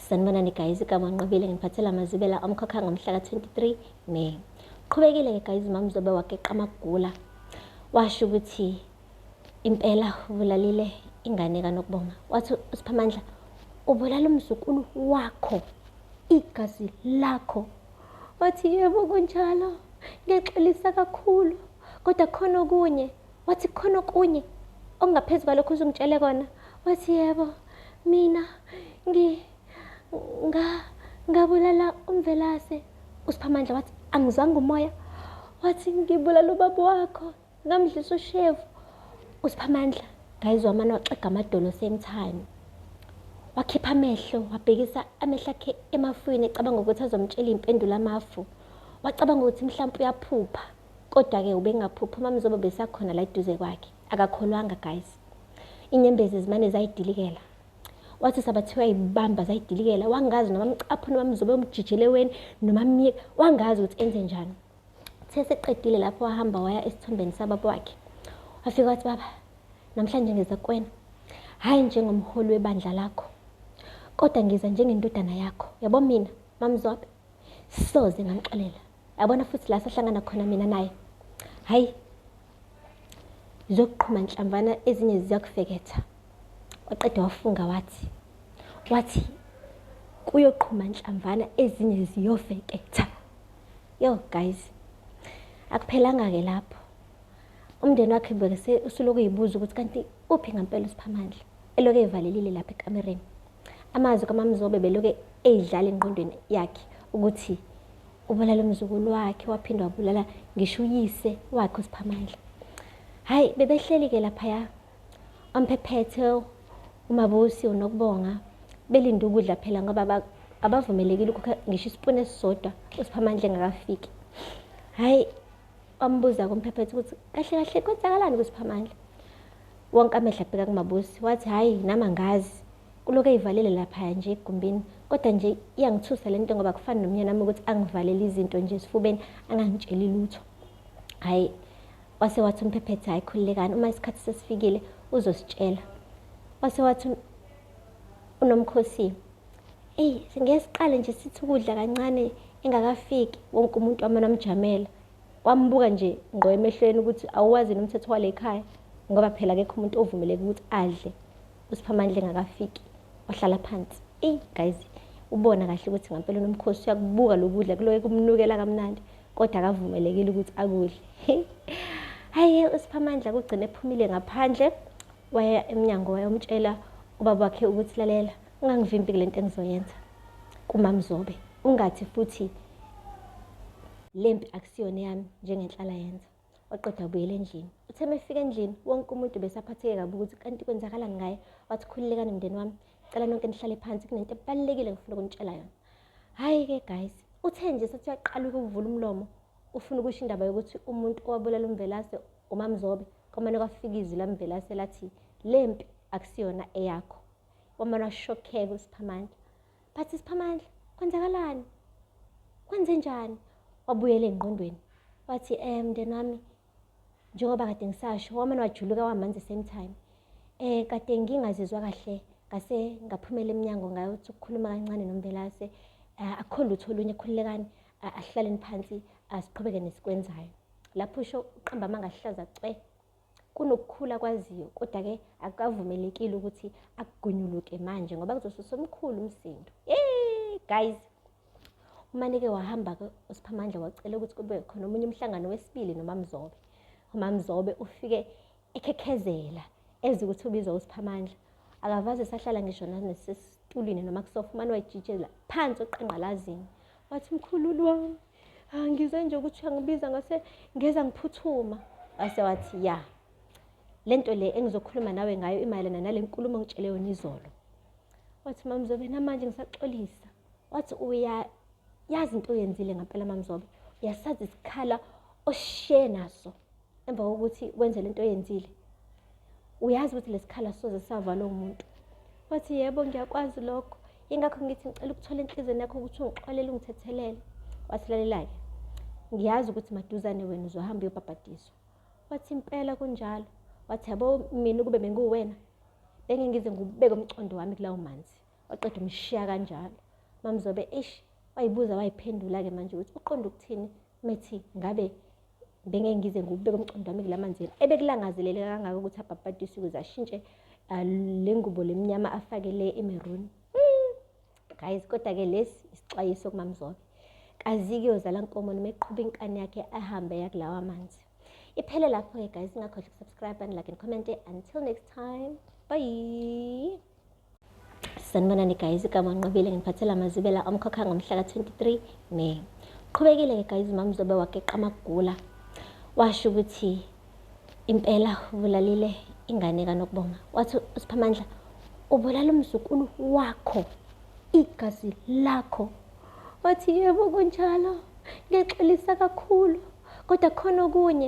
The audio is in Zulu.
sanibonani guys igama nqobile ngiphathela amazibela omkhokha ngomhla ka-23 may qhubekile ke guys mamzobe wageqa amagula washo ukuthi impela ubulalile ingane kanokubonga wathi usiphamandla ubulala umzukulu wakho igazi lakho wathi yebo kunjalo ngiyaxolisa kakhulu kodwa khona okunye Wathi khona okunye okungaphezu kwalokho uzungitshele kona. Wathi yebo mina ngi nga ngabulala umvelase. USiphamandla wathi angizwanga umoya. Wathi ngibulala ubaba wakho ngamdlisa ushevu. USiphamandla ngayizwa amane waxega amadolo same time. Wakhipha amehlo wabhekisa amehlo akhe emafwini ecabanga ukuthi azomtshela impendulo amafu. Wacabanga ukuthi mhlawumbe uyaphupha. Kodwa-ke ubengaphuphi uMaMzobo besakhona la eduze kwakhe. Akakholwanga guys. Inyembezi zimane zayidilikela. Wathi sabathiwa yibamba zayidilikela. Wangazi noma mcaphu noma mzobe umjijele weni noma myeka. Wangazi ukuthi enze njani. Uthe seqedile lapho wahamba waya esithombeni sababa wakhe. Wafika wathi baba namhlanje ngiza kwena. Hayi njengomholi webandla lakho. Kodwa ngiza njengendodana yakho. Yabo mina maMzobe soze ngamxolela. yabona futhi la sahlangana khona mina naye hhayi zokuqhuma nhlamvana ezinye ziyakufeketha waqeda wafunga wathi wathi kuyoqhuma nhlamvana ezinye ziyofeketha yo guys akuphelanga-ke lapho umndeni wakhe bekese usuloku yibuza ukuthi kanti uphi ngampela usiphamandla eloku evalelile lapha ekamereni Amazwi kaMamzobe beloke eyidlala engqondweni yakhe ukuthi ubulala umzukulu wakhe waphinde wabulala ngisho uyise wakhe usiphamandla hhayi bebehleli-ke laphaya omphephethe umabusi unokubonga belinde ukudla phela ngoba abavumelekile ukukha ngisho isipuni esisodwa usiphamandla engakafiki hhayi wambuza kumphephetha ukuthi kahle kahle kwenzakalani kusiphamandla wonke amehla abheka kumabusi wathi hhayi nami angazi kulokhu eyivalele laphaya nje egumbini kodwa nje iyangithusa le nto ngoba kufani nomnyana wami ukuthi angivalele izinto nje esifubeni angangitsheli lutho hhayi wase wathi umphephetha hhayi khululekani uma isikhathi sesifikile uzositshela wase wathi unomkhosi Eyi ngeke siqale nje sithi ukudla kancane engakafiki wonke umuntu wamane amjamela wambuka nje ngqo emehlweni ukuthi awuwazi yini umthetho wale khaya ngoba phela akekho umuntu ovumeleke ukuthi adle usiphamandla engakafiki wahlala phansi eyi guys ubona kahle ukuthi ngampela unomkhosi uyakubuka lokudla kuloke kumnukela kamnandi kodwa akavumelekile ukuthi akudle hayi usiphamandla kugcine ephumile ngaphandle waya emnyango wayomtshela ubaba wakhe ukuthi lalela Ungangivimbi kule nto engizoyenza kumamzobe ungathi futhi lempi akusiyona eyami njengenhlala yenza waqeda ubuyela endlini uthe mefika endlini wonke umuntu besaphatheke kabi ukuthi kanti kwenzakalani ngaye wathi khululekani mndeni wami cela nonke nihlale phansi kunento ebalulekile ngifuna ukunitshela yona hhayi-ke guys uthe nje sethi uyaqala ukuvula umlomo ufuna ukusho indaba yokuthi umuntu owabulala umvelase umamzobe kwamane kwafika izwi lamvelase lathi le mpi akusiyona eyakho wamane washokheka usiphamandla but isiphamandla kwenzakalani kwenze njani wabuyela engqondweni wathi um mndeni wami njengoba kade ngisasho wamane wajuluka wamanzi same time um kade ngingazizwa kahle ngase ngaphumela emnyango ngayothi ukukhuluma kancane nombelase eh, akukho lutho olunye khululekani ahlaleni phansi asiqhubeke nesikwenzayo lapho usho uqamba amanga ahlaza cwe kunokukhula kwaziyo kodwa-ke akukavumelekile ukuthi akugunyuluke manje ngoba kuzosusa omkhulu umsindo hey guys umanike wahamba-ke usiphamandla wacela ukuthi kube khona omunye umhlangano wesibili nomamzobe umamzobe ufike ekhekhezela eze ukuthi ubizwa usiphamandla akavaze sahlala ngisho nanesesitulini noma kusofa umane wayijitshela phansi oqanqalazini Wathi mkhululu wami ah, ngizwe nje ukuthi uyangibiza ngase ngeza ngiphuthuma. Wase wathi ya le nto le engizokhuluma nawe ngayo imayelana nale nkulumo ngitshele yona izolo. Wathi mamzobe namanje ngisaxolisa. Wathi uya yazi into oyenzile ngempela mamzobe uyasazi isikhala oshiye naso. emva kokuthi wenze lento oyenzile uyazi ukuthi lesikhala soze savalwa umuntu wathi yebo ngiyakwazi lokho ingakho ngithi ngicela ukuthola enhlizweni yakho ukuthi ungixolele ungithethelele wasilalelake ngiyazi ukuthi maduzane wena uzohamba uyobhabhadiswa wathi impela kunjalo wathi yabo mina ukube benguwena bengengize ngubeke umcondo wami kulawo manzi waqeda umshiya kanjalo mamzobe ish wayibuza wayiphendula-ke manje ukuthi uqonda ukuthini methi ngabe bengeke ngize ngikubeke umqondo wami kula manzini ebekulangazelele kangaka ukuthi abhabhadise ukuze ashintshe ah, le ngubo lemnyama afake le imeruni hmm, guys kodwa-ke lesi isixwayiso kumamzobe kazike yozala nkomo noma eqhuba inkani yakhe ahambe yakulawa manzi iphele lapho-ke guys ingakhohlwa ukusubscribe and like and comment until next time bye sanibonani guys igama nqobile ngiphathela amazibela omkhokha ngomhla ka-23 may qhubekile-ke guys mamzobe wageqa amagula washo ukuthi impela ubulalile ingane kanokubonga wathi usiphamandla ubulala umzukulu wakho igazi lakho wathi yebo kunjalo ngiyaxolisa kakhulu kodwa khona okunye